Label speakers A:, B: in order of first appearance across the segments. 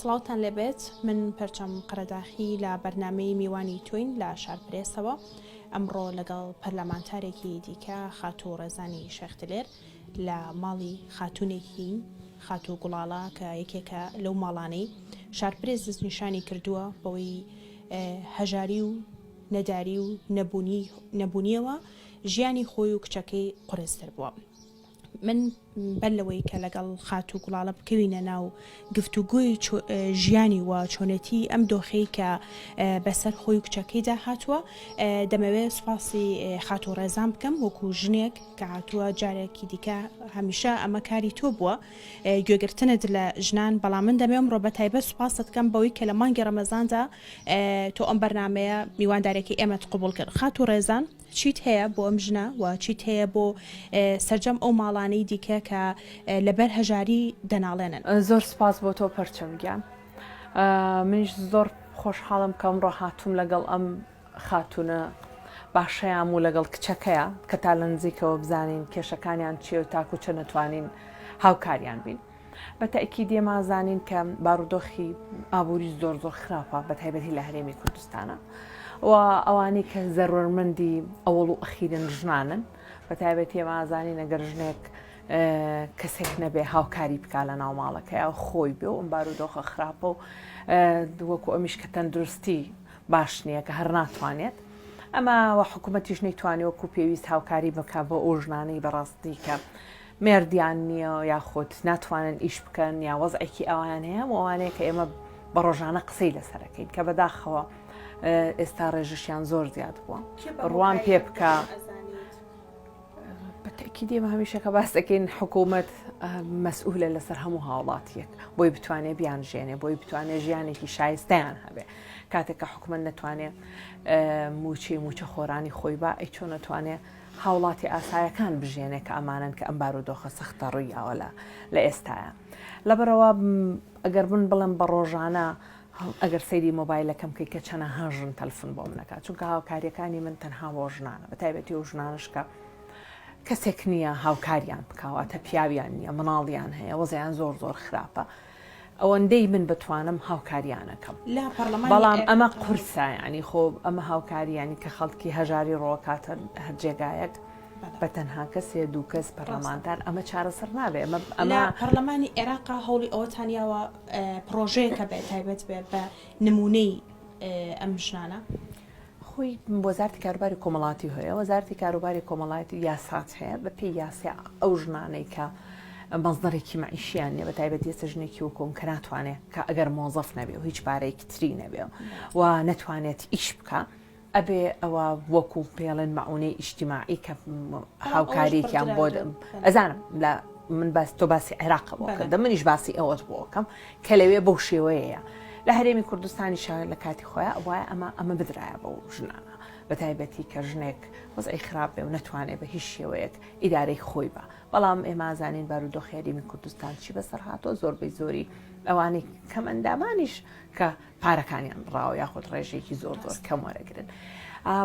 A: سڵاوتان لێبێت من پەرچەم قەرەداخی لە بەرنمەی میوانی توین لە شارپرێسەوە ئەمڕۆ لەگەڵ پەرلەمانتارێکی دیکە خاتوو ڕێزانی شەختلێر لە ماڵی خاتوونێکی، خاتوو گوڵاڵە، کە یەکێکە لەو ماڵانەی شارپرێس دەستنیشانی کردووە بەوەی هەژاری و نەداری و نەبوونییەوە ژیانی خۆی و کچەکەی قورستر بووە. من بەر لەوەی کە لەگەڵ خاتوو گوڵاڵە بکەوینە ناو گفتوگۆی ژیانی و چۆنێتیی ئەم دۆخەی کە بەسەر خۆی و کچەکەیدا هاتووە، دەمەوێ سوپاسی خاتوو ڕێزان بکەم وەکوو ژنێک، کەهاتووە جارێکی دیکە هەمیشە ئەمە کاری تۆ بووە گوێگرتنت لە ژنان بەڵام من دەمێ ئەمڕۆ بە تایبەت سوپاست کەم بەوەی کە لە مانگی ڕەمەزاندا تۆ ئەم بەرنمەیە میواندارێکی ئێمەت قوبول کرد خات و ڕێزان چیت هەیە بۆ ئەم ژنە و چیت هەیە بۆ سەرجەم ئەو ماڵانەی دیکە کە لەبەر هەژاری دەناڵێنن زۆر سپاس بۆ
B: تۆ پەرچەم گیان منیش زۆر خۆشحاڵم کە ئەمڕۆ هاتووم لەگەڵ ئەم خاتوونە باشەیام و لەگەڵ کچەکەیا کە تا لە نزیکەوە بزانین کێشەکانیان چییە و تاکو چەند ئەتوانین هاوکاریان بین. بە تەئکیدی ئەمە ئەزانین کە بارودۆخی ئابووری زۆر زۆر خراپە بە تایبەتی لە هەرێمی کوردستانە و ئەوانەی کە زەرورمەندی ئەوەڵ و ئەخیرن ژنانن بە تایبەتی ئەمە ئازانین ئەگەر ژنێک کەسێک نەبێ هاوکاری بکە لە ناو ماڵەکەی خۆی بێ و ئەم بارودۆخە خراپە و دووەکو ئەمیش کە تەندروستی باش نییە کە هەر ناتوانێت ئەمە وە حکوومەتیش نەیتوانانی وەکو پێویست هاوکاری بکە بۆ ئەو ژنانەی بەڕاستی کە مردیان نییە یاخود ناتوانن ئیش بکەن یا وەزعێکی ئەوان هەیە ئەوانەیە کە ئێمە بە ڕۆژانە قسەی لەسەرەکەین کە بەداخەوە ئێستا ڕێژشیان زۆر زیاد بووە ڕوان پێ بکە. بە تەئکید ئێمە هەمیشە کە باس دەکەین حکوومەت مەسئولە لەسەر هەموو هاوڵاتیەک بۆی بتوانێت بیان ژێنێ بۆی بتوانێت ژیانێکی شایستیان هەبێ کاتێک کە حکومت نەتوانێت موچی موچە خۆرانی خۆی با ئەی چۆن نەتوانێت هاوڵاتی ئاسایەکان بژێنێ کە ئەمانن کە ئەم بارودۆخە سەختە ڕوویاوە لە لە ئێستاە لەبەرەوە ئەگەر من بڵێم بە ڕۆژانە هەڵ ئەگەر سەیری مۆبایلەکەم بکەی کە چەنە هەژن تەلفون بۆ منەکات چونکە هاوکاریەکانی من تەنها بۆ ژنانە بە تایبەتی و ژنانشکە کەسێک نییە هاوکاریان بکواتە پیاویان نییە مناڵیان هەیە وەزیان زۆر زۆر خراپە ئەوەندەی من بتوانم هاوکاریانەکەم لە پەرلەمان بەڵام ئەمە قورسایانی خۆ ئەمە هاوکاریانی کە خەڵکی هەژاری ڕۆکاتە هەر جێگایەک بە تەنها کەسێ دوو کەس پەرلەمانتار ئەمە چارەسەر نابێ ئەمە ئەمە پەرلەمانی عێراقا
A: هەوڵی ئەوە تانیاوە پرۆژەیەکە بێت تایبەت بێت بە نمونەی ئەم ژنانە خۆی
B: وەزارتی کاروباری کۆمەڵاتی هەیە وەزارتی کاروباری کۆمەڵاتی یاسات هەیە بە پێی یاسیا ئەو ژنانەی کە مەزدەڕێکی معیشیان نیە بە تایبەتی ێستا ژنێکی وکۆم کە ناتوانێت کە ئەگەر مۆزەف نەبێ و هیچ پارێکی تری نەبێ و نەتوانێت ئیش بکە ئەبێ ئەوە وەکو پێڵێن مەعونەی ئیشتیماعی کە هاوکاریێکیان بۆ ئەزانم لە من باس تۆ باسی عێراق بۆ کردم منیش باسی ئەوەت بۆکەم کە لەوێ بەو شێوەیە لە هەرێمی کوردستانی شار لە کاتی خۆیان وایە ئەمە ئەمە بدرایە بەو ژنانە بە تایبەتی کە ژنێک وەزعی خراپ بێ و نتوانێت بە هیچ شێوەیەک ئیدارەی خۆی بە بەڵام ئێمازانین بارودۆ خێریمی کوردستان چی بەسەر هاتۆ زۆربەی زۆری ئەوانەی کەمەندامانیش کە پارەکانیان بڕاوە یاخود ڕێژێکی زۆر زۆر کەم وەرەگرن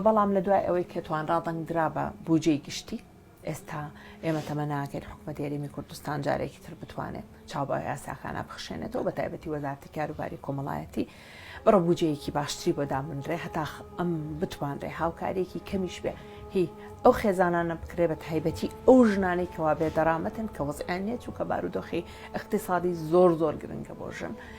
B: بەڵام لە دوای ئەوەی کە توانرا دەنگدرا بە بودجەی گشتی ئێستا ئێمە تەمە ناکەین حکوومەت یاریمی کوردستان جارێکی تر بتوانێت چاوبە یاساکانە بخشێنێتەوە بە تایبەتی وەزارتی کاروباری کۆمەڵایەتی بڕە بجەیەکی باشتری بۆ دامنرێ هەتا ئەم بتوانرێ هاوکارێکی کەمیش بێ هی ئەو خێزانانە بکرێ بە تایبەتی ئەو ژنانەی کەوا بێ دەرامەتن کە وەزیان نیە چووکە بارودۆخی اقتصادی زۆر زۆر گرنگە بۆ ژن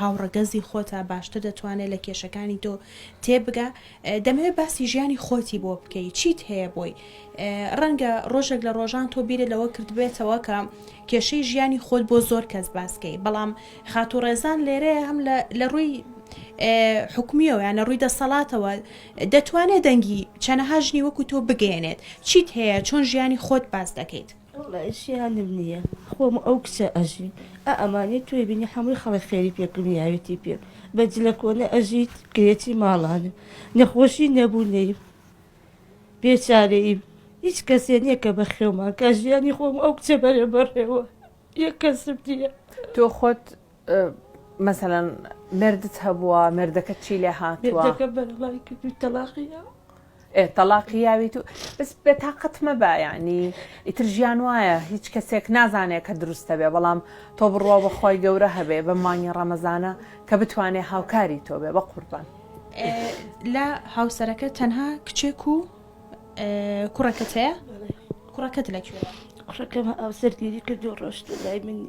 A: هاوڕەگەزی خۆتە باشتر دەتوانێت لە کێشەکانی تۆ تێبگا دەمەوێت باسی ژیانی خۆتی بۆ بکەی چیت هەیە بۆی ڕەنگە ڕۆژێک لە ڕۆژان تۆ بیرە لەوە کردبێتەوە کە کێشەی ژیانی خۆت بۆ زۆر کەس باسکەی بەڵام خاتو ڕێزان لێرەیە هەم لە ڕووی حکومیەوە یانە ڕووی دەسەڵاتەوە دەتوانێت دەنگی چەنەهاژنی وەکو تۆ بگەێنێت چیت هەیە چۆن ژیانی خۆت باس دەکەیت وەڵا ژیانم
C: نیە خۆم و ئەو کچە ئەژین ئا ئەمانەی تۆی بینی حەمووی خەڵک خێری پێ کڕیاوێتی پێم بە جلە کۆنە ئەژیت گرێچی ماڵانە نەخۆشی نەبوو نەیم بێچارەییم هیچ کەسێ نیە کە بە خێومان کا ژیانی خۆم و ئەو کچە بەرە بەڕێوە یەک کەسم نیە. تۆ خۆت
B: مەسەلەن مێردت هەبووە مێردەکەت چی لێ هاتووە؟ مێردەکەم بەرەڵای کردووی
C: تەڵاقی داوە. تەڵاقی
B: یاویت و بەس بێ تاقەت مەبە یعنی ئیتر ژیان وایە هیچ کەسێک نازانێت کە دروستە بێ بەڵام تۆ بڕوا بەخوای گەورە هەبێ بە مانگی ڕەمەزانە کە بتوانێ هاوکاری تۆ بێ بە قوربان
A: لە هاوسەرەکە تەنها کچێک و کوڕەکەت هەیە کوڕەکەت لەکوێ کوڕەکەم ئەو
C: سەرگیری کردو ڕۆشت لای منی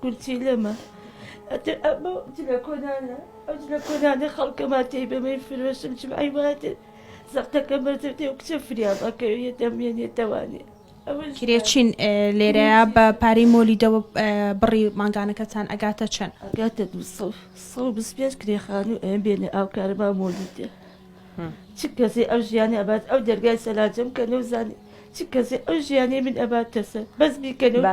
C: کورسی لەمە ئەتر ئەبۆ جلە کۆنانە ئەو جلە کۆنانە خەڵکەما تێی بەمەی فرۆشم چم ئەی واتر زەقتەکە بەردەتێ و کچە فریام ئەکەوێت دەمێنێتەوانێ کرێچین
A: لێرەیە بە پارەی مۆلیدەوە بڕی مانگانەکەتان ئەگاتە چەند ئەگاتە دو
C: پێنج کرێخان و ئەم بێنێ ئاو کارەبا مۆلیدێ چ کەسی ئەو ژیانی ئەبات ئەو دەرگای سەلاجم کە نەوزانی چ کەسی ئەو ژیانی من ئەباتەسە بەس بیکەنەوە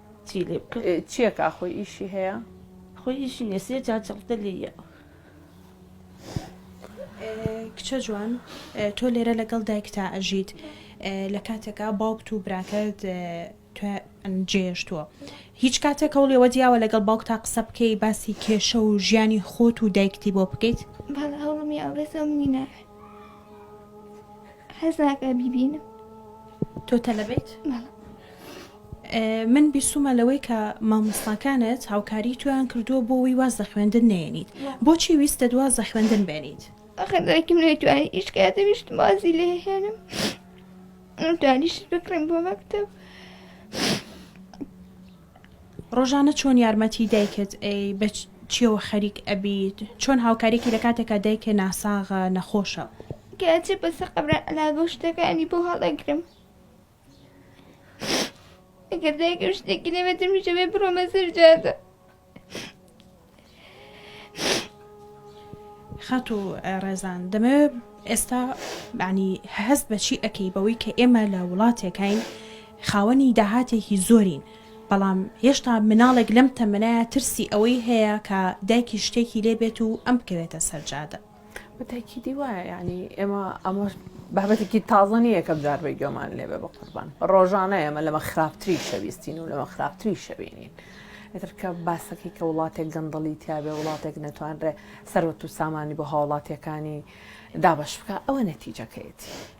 C: چی لێ بکەم. چیە کا خۆی ئیشی
B: هەیە. خۆی ئیشی
C: نیە سێ جار جەڵتە لێ یە.
A: کچە جوان تۆ لێرە لەگەڵ دایکتا ئەژیت لە کاتێکا باوکت و براکەت جێشتووە هیچ کاتێک هەوڵی ئەوە دیاوە لەگەڵ باوکتا قسە بکەی باسی کێشە و ژیانی خۆت و دایکتی بۆ بکەیت بەڵ هەوڵم یا
D: بەس ئەو منی ناوێت حەز ناکە بیبینم تۆ
A: تەلەبەیت؟ بەڵێ من بیستومە لەوەی کە مامۆستاکانت هاوکاری تۆیان کردووە بۆ وی واز لە خوێندن نەیەنیت بۆچی ویستت واز لە خوێندن بێنیت؟ ئەخر دایکم
D: نەیتوانی ئیش کە دەویشت وازی لێ هێنم توانیشت بکڕم بۆ مەکتب
A: ڕۆژانە چۆن یارمەتی دایکت ئەی بە چیەوە خەریک ئەبیت چۆن هاوکاریکی لە کاتێکا دایکە ناساغە نەخۆشە کەچێ
D: بەسەر قەبران ئەلاگە و شتەکانی بۆ هەڵەگرم ئەگەر دایکم شتێکی لێ بێتم میشە بێ بڕۆمە سەر جادە
A: خات و ڕێزان دەمەوێ ئێستا بانی هەست بەچی ئەەکەی بەوەی کە ئێمە لە وڵاتێکین خاوەنی داهاتێکی زۆرین بەڵام هێشتا مناڵێک لەم تەمەنایە ترسی ئەوەی هەیە کە دایکی شتێکی لێبێت و ئەم بکەوێتە سەرجادە بەتاکیدی
B: وایە یعنی ئێمە ئەمە بابەتێکی تازە نییە کەم جار بە گوێمان لێبێ بە قوربان ڕۆژانە ئێمە لەمە خراپتری شەویستین و لەمە خراپتری شەوێنین. ئەترکە باسەکەی کە وڵاتێک گەندەڵی تیاابێ وڵاتێک نەتوانرێ سەرەت و سامانی بۆ هاوڵاتیەکانی دابش بکە ئەوە نەتیجەکەیەتی.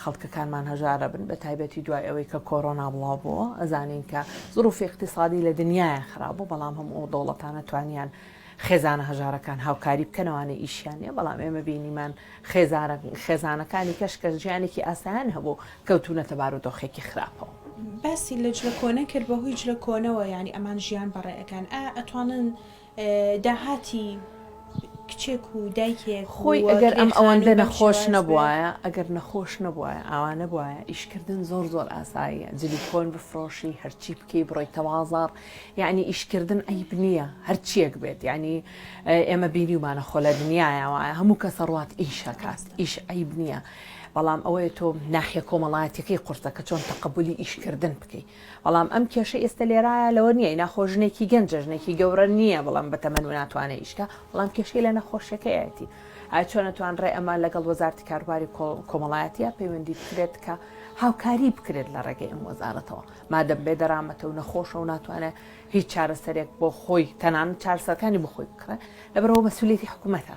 B: خەڵکەکانمان هەژارە بن بە تایبەتی دوای ئەوەی کە کۆرۆنا بڵاو بووە ئەزانین کە زروفی اقتصادی لە دنیاە خراپبوو بەڵام هەم ئەو دەوڵەتانە توانیان خێزانە هەژارەکان هاوکاری بکەنەوانە ئیشیانە بەڵام ئێمە بینیمان خێزارە خێزانەکانی کەشکە ژیانێکی ئاسایان هەبوو کەوتونە تەبار و دۆخێکی خراپەوە. باسی لە
A: جلە کۆنە کرد بەهۆی جلە کۆنەوە یعنی ئەمان ژیان بەڕێ ئەکەن ئایا ئەتوانن داهاتی کچێک و دایکێک خۆی ئەگەر ئەم
B: ئەوەندە نەخۆش نەبوایە ئەگەر نەخۆش نەبوایە ئاوا نەبوایە ئیشکردن زۆر زۆر ئاساییە جلی کۆن بفرۆشی هەرچی بکەی بڕۆی تەوازار یعنی ئیشکردن عیب نییە هەرچیەک بێت ینی ئێمە بینیمانە خۆ لە دنیاەوە هەموو کەسە ڕات ئیشەکات ئیش عیب نییە بەڵام ئەوەیە تۆ ناحە کۆمەڵایەتەکەی قورسە کە چۆن تەقبلی ئیشکردن بکەیت بەڵام ئەم کێشەی ئێستە لێرایە لەوە نیە ئینا خۆ ژنێکی گەنجە ژنێکی گەورە نیە بەڵام بەتەمەن وناتوانێ ئیشکا بەڵام کێشەی لە نەخۆشیەکەیەتی ئایا چۆن ئەتوانرێ ئەمە لەگەڵ وەزارەتی کاروباری کۆمەڵایەتیە پەیوەندی بکرێت کە هاوکاری بکرێت لە ڕێگەی ئەم وەزارەتەوە مادەم بێ دەرامەتە و نەخۆشە و ناتوانێ هیچ چارەسەرێک بۆ خۆی تەنان چارسەکانی بخۆی بکڕێ لەبەرەوە مەسوولێتی حکوومەتە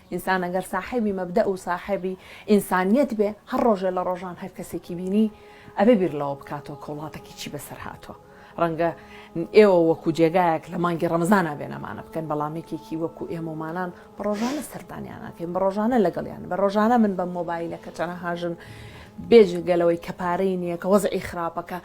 B: ئینسان ئەگەر ساحێبی مەبدەئ و ساحێبی ئینسانیەت بێ هەر ڕۆژێ لە ڕۆژان هەر کەسێکی بینی ئەبێ بیر لەوە بکاتەوە کە وڵاتەکی چی بەسەر هاتووە. ڕەنگە ئێوە وەکوو جێگایەک لە مانگی ڕەمەزانا بێنەمانە بکەن بەڵام یەکێکی وەکوو ئێمەمانان بە ڕۆژانە سەردانیان ئەکەین بە ڕۆژانە لەگەڵیان بە ڕۆژانە من بەم مۆبایلە کە چەنەها ژن بێجگە لەوەی کە پارەی نییە کە وەزعی خراپەکە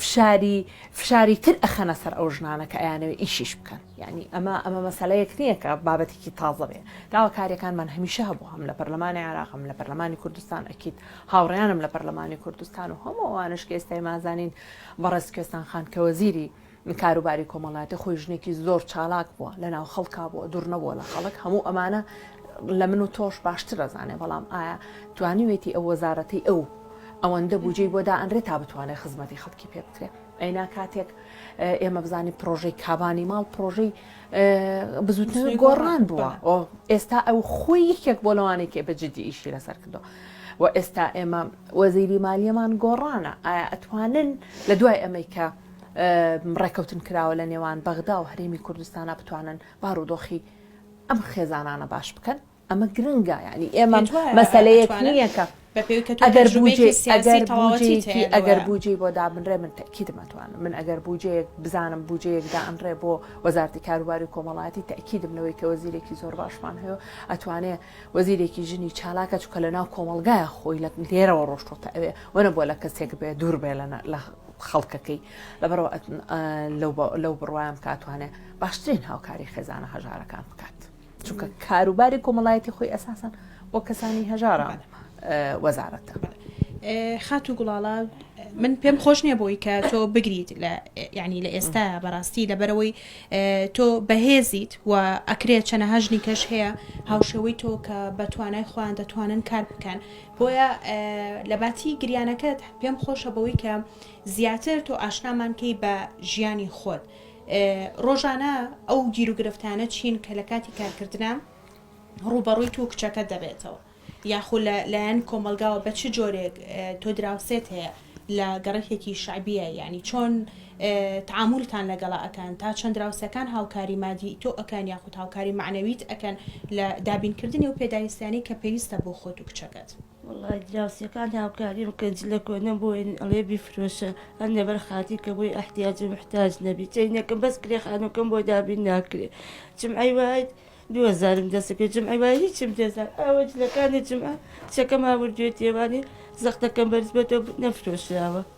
B: فشاری فشاری تر ئەخەنە سەر ئەو ژنانە کە ئەیانەوە ئیشیش بکەن. یانی ئەمە ئەمە مەسەلەیەک نییە کە بابەتێکی تازە بێ داواکاریەکانمان هەمیشە هەبوو هەم لە پەرلەمانی عێراق هەم لە پەرلەمانی کوردستان ئەکید هاوڕیانم لە پەرلەمانی کوردستان و هەموو ئەوانش کە ئێستای مازانین بەڕێز کوێستان خان کە وەزیری کاروباری کۆمەڵاتی خۆی ژنێکی زۆر چالاک بووە لە ناو خەڵکا بووە دوور نەبووە لە خەڵک هەموو ئەمانە لە من و تۆش باشتر ئەزانێ بەڵام ئایا توانیوێتی ئەو وەزارەتی ئەو ئەوەندە بودجەی بۆ دائەنرێت تا بتوانێت خزمەتی خەڵکی پێ بکرێت ئەینا کاتێک ئێمە بزانین پرۆژەی کابانی ماڵ پرۆژەی بزوتنەوەی گۆڕان بووە ئێستا ئەو خۆی یەکێک بۆ لەوانێکی بەجددی ئیشی لەسەر کردو و ئێستا ئێمە وەزیری مالیەمان گۆڕانە ئایا ئەتوانن لە دوای ئەمریکا ڕێکەوتن کراوە لە نێوان بەغدا و هەرێمی کوردستانە بتوانن بارودۆخی ئەم خێزانانە باش بکەن ئەمە گرنگە یانی ئێمە مەسەلەیەک نییە کە ئەگەر بوجێکی ئەگەر بوجی بۆ دابنرێ من تەکیدمەتوانم من ئەگەر بوجەیەک بزانم بوجەیەک دانرێ بۆ وەزارتی کاروباری کۆمەڵاتی تاکیدم لەوەی کە وەزیرێکی زۆر باشمان هەیە ئەتوانێ وەزیرێکی ژنی چالاکە چکە لە ناو کۆمەلگای خۆی لە لێرەوە ڕۆشتۆتە ئەوێ وەنە بۆ لە کەسێک بێ دوور بێ لە خەڵکەکەی لەبەرەوە لەو بڕوایم کاتوانێ باشترین هاوکاری خێزانە هەژارەکان بکات. چونکە کاروباری کۆمەڵایەتی خۆی ئەساسن بۆ کەسانی هەژارە وەزارەتە
A: خات و گوڵاڵا من پێم خۆش نییە بۆی کە تۆ بگریت لە ینی لە ئێستا بەڕاستی لە بەرەوەی تۆ بەهێزیت و ئەکرێت چەنە هەژنی کەش هەیە هاوشێوەی تۆ کە بە توانای خۆیان دەتوانن کار بکەن بۆیە لە باتی گریانەکەت پێم خۆشە بەوەی کە زیاتر تۆ ئاشنامانکەی بە ژیانی خۆت. ڕۆژانە ئەو گیروگرفتانە چین کە لە کاتی کارکردنا ڕووبەڕووی تۆ و کچەکەت دەبێتەوە یاخۆ لە لایەن کۆمەلگاوە بە چ جۆرێک تۆ دراوسێت هەیە لە گەڕەکێکی شعبیە یعنی چۆن تعامولتان لەگەڵا ئەکەن تا چەند دراوسەکان هاوکاری مادی تۆ ئەکەن یاخود هاوکاری معنەویت ئەکەن لە دابینکردنی و پێداویستیانی کە پێویستە بۆ خۆت و کچەکەت. وەڵا دراوسێکان
C: هاوکاریم کە جلە کۆنەم بۆین ئەڵێ بیفرۆشە هەر لەبەر خاتری کە بۆی ئەحتیاج و محتاج نەبی چەینەکم بەس کرێ خانوکەم بۆ دابین ناکرێ جمعەی وایت دوو هەزارم دەست کرد جمعەی وای هیچم دەزان ئەوە جلەکانی جمعە کچەکەم هاوردوێ تێوانی زەختەکەم بەرز بەتۆ نەفرۆشراوە.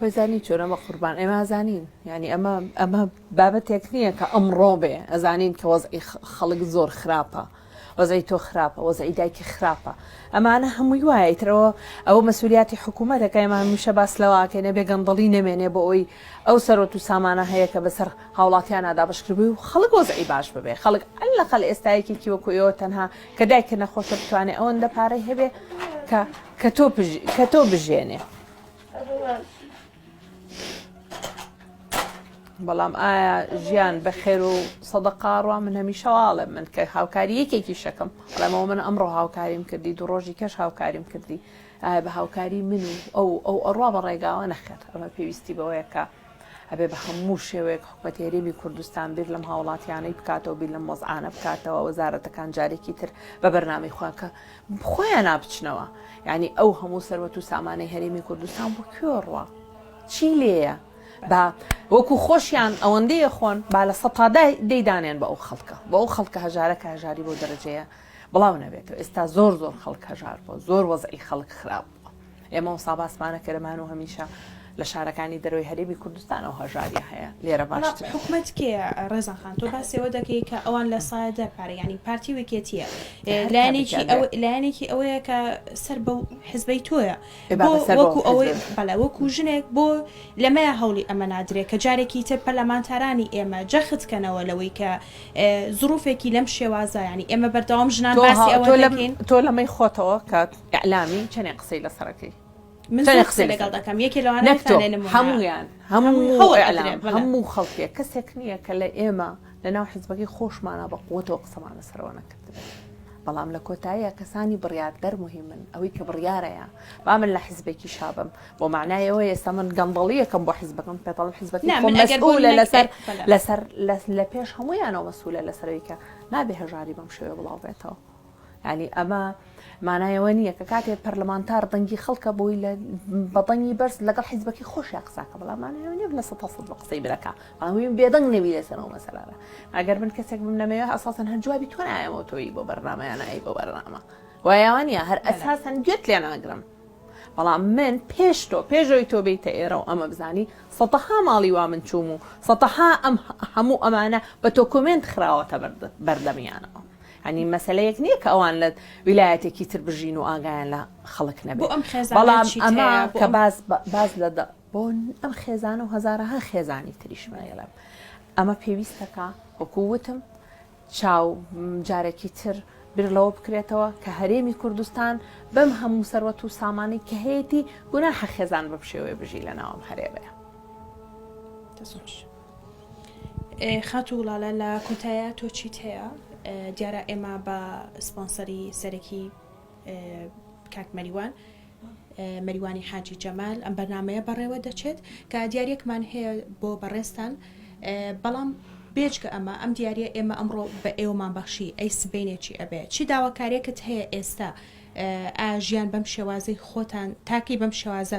B: وای زانی چۆنە بە قوربان ئێمە ئەزانین یعنی ئەمە ئەمە بابەتێک نییە کە ئەمڕۆ بێ ئەزانین کە وەزعی خەڵک زۆر خراپە وەزعی تۆ خراپە وەزعی دایکی خراپە ئەمانە هەمووی وایە ترەوە ئەو مەسولیاتی حکوومەتەکە ئێمان میشە باس لەواکەێنە بێگەندڵی نەمێنێ بۆ ئەوی ئەو سەرۆت و سامانە هەیە کە بەسەر هاوڵاتیان نادابشکردبووی و خەڵک وەزعی باش ببێ خەڵک ئەل لەقل ئێستایەکێکی وەکویەوە تەنها کە دایکە نەخۆشە بتوانێت ئەوەندە پارەی هەبێ کە کە تۆ کە تۆ بژێنێ بەڵام ئایا ژیان بە خێر و سەدە قاڕوا من هەمیشەواڵێ من کە هاوکاری یەکێکی شەکەم بەڵامەوە من ئەمڕۆ هاوکاریم کردی دوو ڕۆژی کەش هاوکاریم کردی ئایا بە هاوکاری من و ئەو ئەو ئەڕوا بە ڕێگاوە نەخێت ئەمە پێویستی بەوەیەکە ئەبێ بە هەموو شێوەیەک حکومەت هێرێمی کوردستان بیر لەم هاوڵاتیانەی بکاتەوە بیر لەم وەزعانە بکاتەوە وەزارەتەکان جارێکی تر بە بەرنامی خۆیان کە خۆیان نابچنەوە ینی ئەو هەموو سەروەت و سامانەی هەرێمی کوردستان بۆ کوێڕوە چی لێە با وەکو خۆشیان ئەوەندەیە خۆن با لە سەتادای دەیدانێن بە ئەو خەڵکە بە ئەو خەڵکە هەژارە کە هەژاری بۆ دەرەجەیە بڵاو نەبێتەوە ئێستا زۆر زۆر خەڵک هەژار بۆ زۆر وەزعی خەڵک خراپ بووە ئێمە وسا باسمانە کەرەمان و هەمیشە لە شارەکانی دەرەوەی هەرێمی کوردستان ئەو هەژاری هەیە لێرە باش حکومت کێ
A: ڕێزان خان تۆ باسەوە دەکەی کە ئەوان لە سایە دەر پارە ینی پارتی وکێتیە لایەنێکی لایەنێکی ئەوەیە کە سەر بە حزبەی تۆیە وەکو ئەوەی بەڵێ وەکو ژنێک بۆ لەمەیە هەوڵی ئەمە نادرێت کە جارێکی تر پەرلەمانتارانی ئێمە جەخت کەنەوە لەوەی کە زروفێکی لەم شێوازایانی ئێمە بەردەوام ژنان باسی ئەوە تۆ لەمەی خۆتەوە
B: کات ئیعلامی چەنێ قسەی لەسەرەکەی من زۆر قسە
A: لەگەڵ دەکەم یەکێ لەوانە نەکتۆ هەموویان
B: هەموو ئیعلام هەموو خەڵکێ کەسێک نییە کە لە ئێمە لەناو حزبەکەی خۆشمانە بە قوتەوە قسەمان لەسەرەوە نەکردبێت بەڵام لە کۆتاییە کەسانی بڕیاردەر مهمن ئەوەی کە بڕیارەیە با من لە حزبێکی شابم بۆ معنایەوە ئێستا من گەندەڵیەکەم بۆ حزبەکەم پێتەڵ حزبەکە لە لەسەر لەسەر لە پێش هەموویانەوە مەسوولە لەسەرەوەی کە نابێ هەژاری بەم شێوە بڵاو بێتەوە یانی ئەمە مانای ئەوە نییە کە کاتێ پەرلەمانتار دەنگی خەڵکە بۆی لە بەدەنگی بەرز لەگەڵ حیزبەکەی خۆشیا قساکە بەڵام مانایە لە سە هەسەد بە قسەی برەکە ئەوین بێدەنگ نەوی لەسەرەوە مەسەرانە ئەگەر من کەسێک بم نەمەوێ ئەساسن هەر جوابی تۆ نایەمەوە تۆی بۆ بەرنمەیانایی بۆ بەرنامە وایوانە هەر ئەساسن گوێت لێ ناگرم بەڵام من پێش تۆ پێشەوەی تۆ بیتە ئێرە و ئەمە بزانی سەتەها ماڵی وا من چوم و سەتەها ئەم هەموو ئەمانە بە تۆ کۆمنت خراوەتە بەردەمیانەوە یانی مەسەلەیەک نیە کە ئەوان لە ویلایەتێکی تر بژین و ئاگایان لە خەڵک نەبێت بۆ ئەم خێزانە بەڵام چیت ئەمە هەیە بۆ کە ئەم- باس باس لە دە- بۆ ئەم خێزانە و هەزارەها خێزانی تریش من دەڵێم ئەمە پێویستەکە وەکو وتم چاو م، جارێکی تر بیر لەوە بکرێتەوە کە هەرێمی کوردستان بەم هەموو سەروەت و سامانی کە هەیەتی گوناحە خێزان بەم شێوەیە بژی لە ناوم هەرێمەیە دەست خۆش.
A: خاتوو گوڵالە لە کۆتایە تۆ چیت هەیە دیارە ئێمە بە سپۆنسەری سەرەکی کاک مەریوان مەریوانی حاجی جەمال ئەم بەرنمەیە بەڕێوە دەچێت کە دیارێکمان هەیە بۆ بەڕێستان بەڵام بێجگە ئەمە ئەم دیارە ئێمە ئەمڕۆ بە ئێوەمان بەخشی ئەی سبینێکی ئەبێ چی داواکارێکت هەیە ئێستا ئاژیان بەم شێوازەی خۆتان تاکەی بەم شێوازە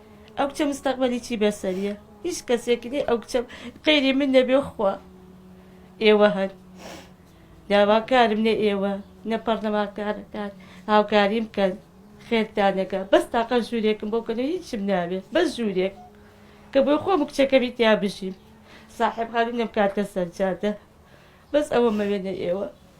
C: ئەو کچە مستەقبەلی چی بەسەریە هیچ کەسێک نی ئەو کچە قەیری من نەبێ خوا ئێوە هەن داواکارم نە ئێوە نە پەڕلەمانکارەکان هاوکاریم کەن خێرتانەکە بەس تاقە ژوورێکم بۆ کەنە هیچم ناوێت بەس ژوورێک کە بۆی خۆم کچەکەمی تیا بژیم ساحب خانم نەم کاتە سەرجادە بەس ئەوە مەوێنە ئێوە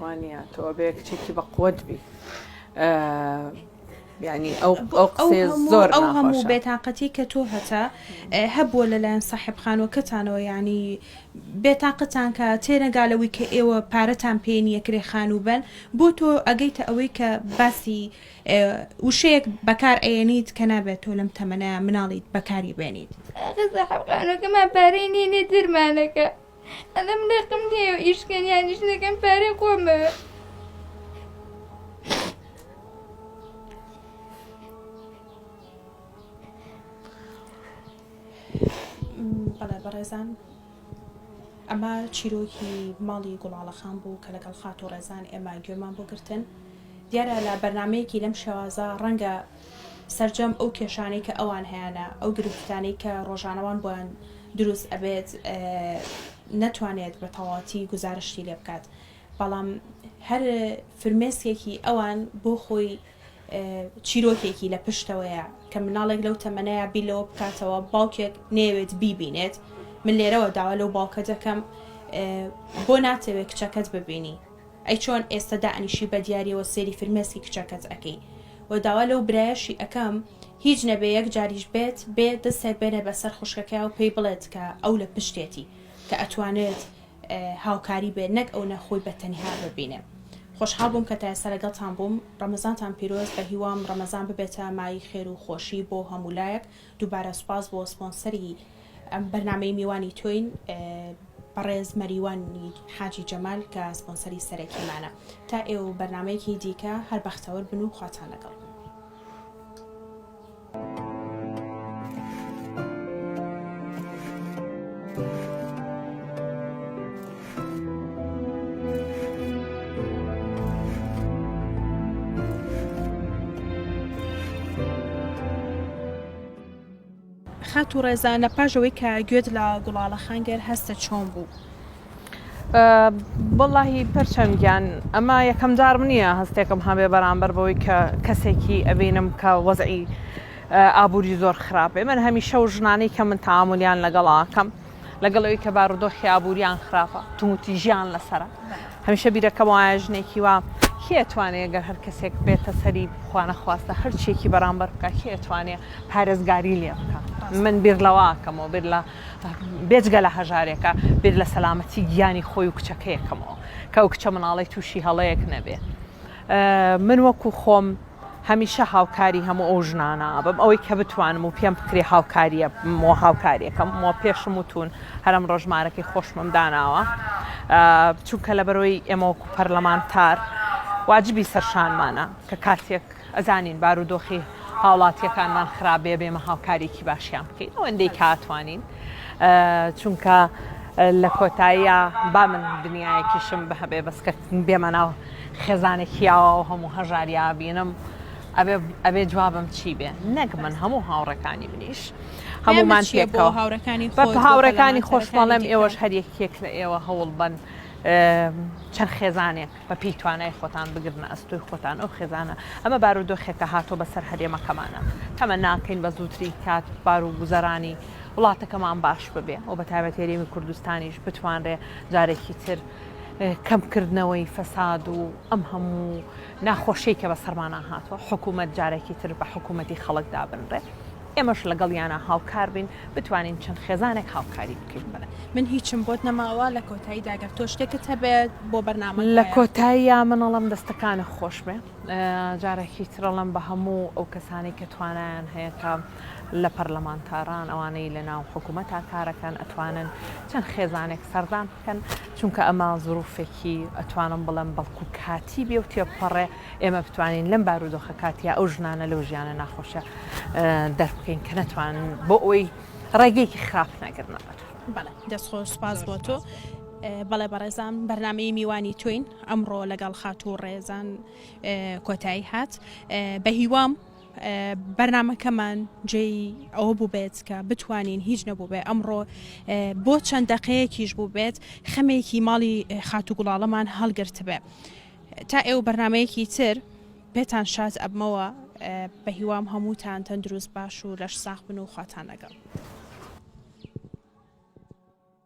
B: وانیە تۆ ئەبێ کچێکی بەقوەت بی یعنی ئەو ئەو قسەیە زۆر ئەو هەموو ناخۆشە. بێتاقەتی
A: کە تۆ هەتە ئە، هەبووە لەلایەن ساحێب خانووەکەتانەوە یانی بێتاقەتان کە تێنەگا لەوەی کە ئێوە پارەتان پێ نییە کرێ خانوو بەن بۆ تۆ ئەگەیتە ئەوەی کە باسی ئە وشەیەک بەکار ئەیەنیت کە نابێت تۆ لەم تەمەنە مناڵیت بەکاری بێنیت. ئاخر ساحێب
D: خانووەکەمان پارەی نییە نیە درمانەکە. ئەڵێم لەقم نیە و ئیشکەن یانیش نەکەم پارەی خۆمە
A: بەڵێ بەڕێزان ئەمە چیرۆکی ماڵی گوڵاڵەخان بوو کە لەگەڵ خات و ڕێزان ئێمە گوێمان بۆ گرتن دیارە لە بەرنمەیەکی لەم شێوازە ڕەنگە سەرجەم ئەو کێشانەی کە ئەوان هەیانە ئەو گرفتانەی کە ڕۆژانەوان بۆیان دروست ئەبێت نەتوانێت بە تەواتی گزارشتی لێ بکات بەڵام هەر فرمێسکێکی ئەوان بۆ خۆی چیرۆکێکی لە پشتەوەیە کە مناڵێک لەو تەمەەیە بی لەوە بکاتەوە باوکێک نێوێت بیبینێت من لێرەوە داوا لەو باوکە دەکەم بۆ ناتەوێت کچەکەت ببینی ئەی چۆن ئێستە دائەنیشی بەدیاریەوە سێری فرمێسکی کچەکەت ئەکەی و داوا لەو برایەشی ئەکەم هیچ نەبێ یەک جاریش بێت بێ دەستێ بێنێ بەسەر خوشکەکەیا و پێی بڵێت کە ئەو لە پشتێتی کە ئەتوانێت هاوکاری بێ نەک ئەو نە خۆی بەتەنها ببینێ خۆشحاڵ بووم کە تایستا لەگەڵتان بووم ڕەمەزانتان پیرۆز بەهیوام ڕەمەزان ببێتە مای خێر و خۆشی بۆ هەموولایەک دووبارە سوپاس بۆ سپۆنسەری ئەم بەرنامەی میوانی تۆین بەڕێز مەریوان حاجی جەمال کە سپۆنسەری سەرەکیمانە تا ئێوە و بەرنمەیەکی دیکە هەر بەختەوەر بن و خواتان لەگەڵ بن Thank you. خاتوو ڕێزانە پاش ئەوەی کە گوێت لە گوڵاڵە خانگەر هەستە چۆن بوو
B: بەڵی پرچەنگیان ئەمە یەکەم جارم نییە هەستێکم هەمێ بەرامبەر بەوەی کە کەسێکی ئەبینم کە وەزعی ئابووری زۆر خراپێ من هەمیشە و ژنانەی کە من تااملیان لەگەڵاکەم. لەگەڵ ئەوی کە بارودۆخی ئابووریان خراپە تووتیژیان لەسرە هەمیشە بیرەکەم وایە ژنێکی وا کێ ئەتوانێت گەر هەر کەسێک بێتە سەری بخوانەخواستە هەرچێکی بەرامبەر بکە کێ ئەتوانێت پارێزگاری لێ بکە من بیر لەواکەمەوە بیر لە بێجگە لە هەژارێکە بیر لە سەلامەتی گیانی خۆی و کچەکەیەکەمەوە کە ئەو کچە مناڵی تووشی هەڵەیەک نەبێ من وەکو خۆم هەمیشە هاوکاری هەموو ئەو ژنانە ئەبم ئەوەی کە بتوانم و پێم بکرێ هاوکاریە مۆ هاوکاریەکەم مۆ پێشم وتون هەرم ڕژمارەکەی خۆشمم داناوە چونکە لە بەرۆی ئێمەوەکو پەرلەمانتار واجبی سەرشانمانە کە کاتێک ئەزانین بارودۆخی هاوڵاتیەکانمان خراپێ بێمە هاوکارێکی باشیان بکەین ئەوەندەی کاتوانین چونکە لە کۆتاییە با من دنیایەکیشم بهبێ بەسکە بێمە ناو خێزانێک هیاوا و هەموو هەژاریا بینم ئەبێ جوابم چی بێ نەک من هەموو هاوڕەکانی منیش هەمومان پێکەوە هاورەکانی هاورەکانی خۆشمەڵێم ئێوەش هەریەکێک لە ئێوە هەوڵ بن چەند خێزانێک بە پێی توانای خۆتان بگرن ئەستۆی خۆتان ئەو خێزانە ئەمە بارودۆخێکە هاتۆ بەسەر هەرێمەکەمانە تەمە ناکەین بە زووتری کات بار و گوزەرانی وڵاتەکەمان باش ببێ و بە تابەتێریمی کوردستانیش بتوانرێ جارێکی تر کەمکردنەوەی فەساد و ئەم هەموو ناخۆشیی کە بەسەرمانا هاتووە، حکوومەت جارێکی تر بە حکوومەتی خەڵک دابنرێت، ئێمەش لەگەڵیانا هاوکار بین، بتوانین چەند خێزانێک هاوکاری بکەین. من هیچم بۆت
A: نەماوە، لە کۆتاییدا گەر تۆ شتێکت هەبێت بۆ بەرنامەکە. لە کۆتاییا
B: من ئەڵێم دەستەکانت خۆش بێ، جارێکی تر ئەڵێم بە هەموو ئەو کەسانەی کە توانایان هەیە کە لە پەرلەمانتاران، ئەوانەی لەناو حکوومەتا کار ئەکەن، ئەتوانن چەند خێزانێک سەردان. کەن چونکە ئەمە زروفێکی ئەتوانم بڵێم بەڵکو کاتی بێ و تێپەڕێ ئێمە بتوانین لەم بارودۆخە کاتیا ئەو ژنانە لەو ژیانە ناخۆشە دەربکەین کە نەتوان بۆ ئەوی ڕێگەیەکی خراپ نەگرنەوەەت دەستخۆ
A: سپاس بۆ تۆ بەڵێ بەڕێزان بەرنمەی میوانی توین ئەمڕۆ لەگەڵ خاتوو ڕێزان کۆتایی هات بە هیوام بەرنامەکەمان جێی ئەوە بووبێت کە بتوانین هیچ نەبووبێ ئەمڕۆ بۆ چەند دەقەیەکیش بووبێت خەمێکی ماڵی خاتو گوڵاڵەمان هەڵگرتبێ تا ئێوە بەرنمەیەکی تر پێتان شاز ئەبمەوە بە هیوام هەمووتان تەندروست باش و لەش ساخ بن و خواتان لەگەڵ.